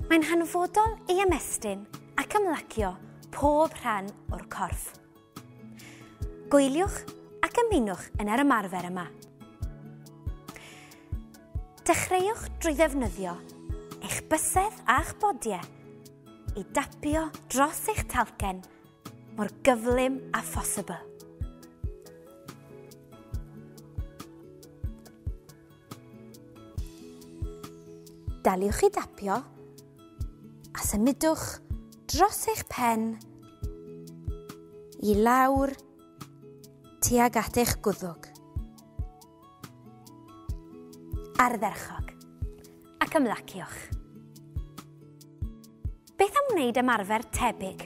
Mae'n hanfodol ei ymestyn ac ymlacio pob rhan o'r corff. Gwyliwch ac ymunwch yn yr ymarfer yma. Dechreuwch drwy ddefnyddio eich bysedd a'ch bodiau i dapio dros eich talcen mor gyflym a phosibl. Daliwch i dapio a symudwch dros eich pen i lawr tuag at eich gwddwg. Ardderchog. Ac ymlaciwch. Beth am wneud ymarfer tebyg,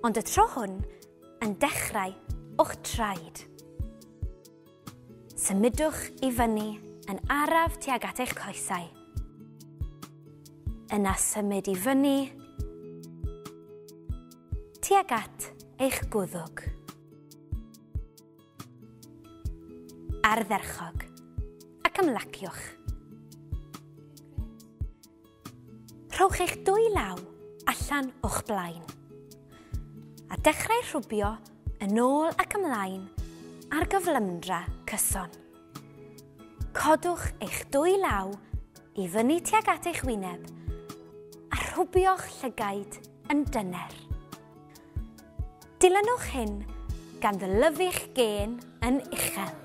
ond y tro hwn yn dechrau o'ch traed? Symudwch i fyny yn araf tuag at eich coesau. Yna symud i fyny tuag at eich gwddwg. Ardderchog. Ac ymlaciwch. Rhowch eich dwy law allan o'ch blaen. A dechrau rhwbio yn ôl ac ymlaen ar gyflymdra cyson. Codwch eich dwy law i fyny tuag at eich wyneb a rhwbio'ch llygaid yn dyner. Dilynwch hyn gan ddylyfu'ch gên yn uchel.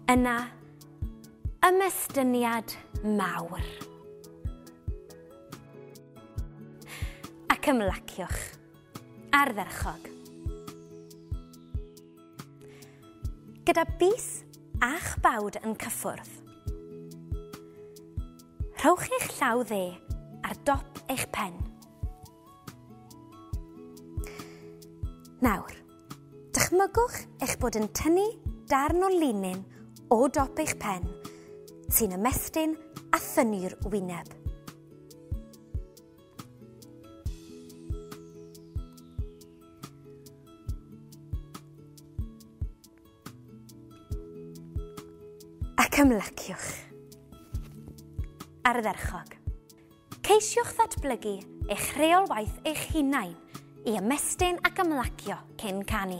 Yna, ymestyniad mawr. Ac ymlaciwch. Ardderchog. Gyda bus a'ch bawd yn cyffwrdd. Rhowch eich llaw dde ar dop eich pen. Nawr, Dychmygwch eich bod yn tynnu darn o linyn o dop eich pen sy'n ymestyn a thynnu'r wyneb. Ac ymlaciwch. Ardderchog. Ceisiwch ddatblygu eich rheolwaith eich hunain i ymestyn ac ymlacio cyn canu.